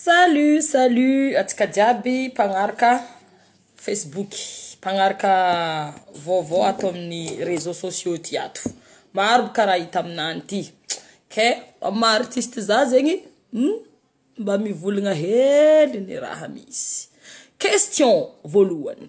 Salut salut antsika jiaby mpagnaraka facebook, mpagnaraka vaovao ato amin'ny réseau sociaux ty ato, maro boka raha hita aminany ty, kay mba maha artiste za zegny hum mba mivolagna hely ny raha misy, question voalohany.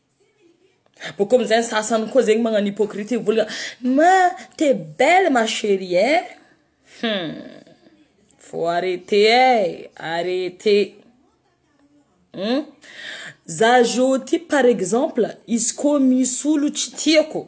Bôka amizay ny sasany koa zegny magnagno hypocrite mivolagna ma te belle ma cherie eh hum faut arreter eh arreter hum za zao ty par exemple izy koa misy olo tsy tiako.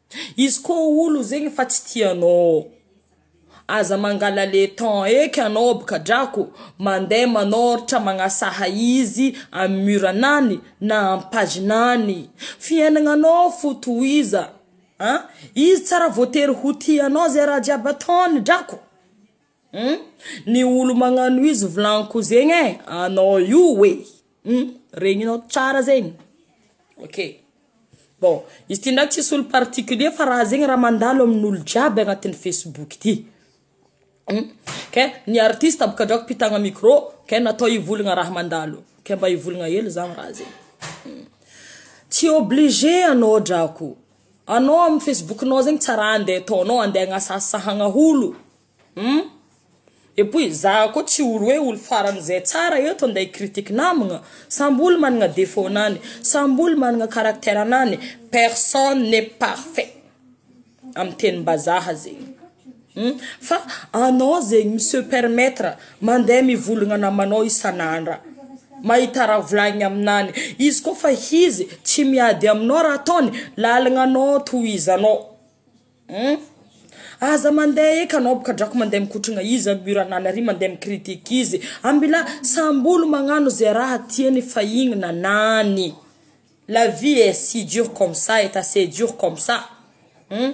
Izy ko olo zegny fa tsy tia anao ô! Aza mangala le temps eky anao bka drako mande manoratra magnasaha izy am mur nany na am page nany fiainagna anao fo tohiza an! Izy tsara voatery ho tia anao ze raha jiaby ataony drako. Hum ny olo magnano izy volagniko zegny e anao io e hum regninao tsara zegny ok bon izy ty ndraiky tsisy olo particulier fa raha zegny raha mandalo amin'olo jiaby agnatin'ny facebook ty hum ke ny artiste boka drako mpitagna micro ke natao hivolagna raha mandalo ke mba hivolagna hely zah raha zegny tsy obligé anao drako. Anao amin'ny Facebook nao zegny tsy raha andeha ataonao andeha agnasasahagna olo hum et puis za koa tsy olo hoe olo farany zay tsara eto andeha hi critique namagna samby olo managna defaut nany samby olo managna caractère nany personne n'est parfait amin'ny tenim-bazaha zegny. Hum fa anao zegny mi se permettre mandeha mivolagna namanao isan'andra mahita raha volagniny aminany izy koa fa izy tsy miady aminao raha ataony lalagna anao tohizanao hum aza mandeha eky anao boka drako mandeha mikotrana izy amy mur anany ary mandeha mi critique izy ambila samby olo magnano ze raha tiany fa igny nanany la vie est si dure comme ça est assez dure comme ça hum.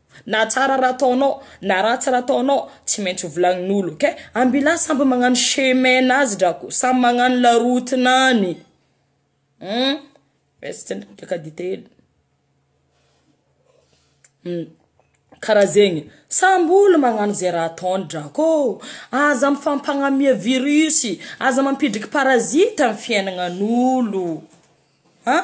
Na tsara raha ataonao na ratsy raha ataonao tsy maintsy ho volagnin'olo ok? Ambilà samby magnano chemin nazy drako samy magnano la route nany hum raisintsika ndraiky migiaka dite hely hum karaha zegny samby olo magnano ze raha ataony drako ô aza mifampagnamia virus aza mampidriky parasite am fiainagnan'olo an.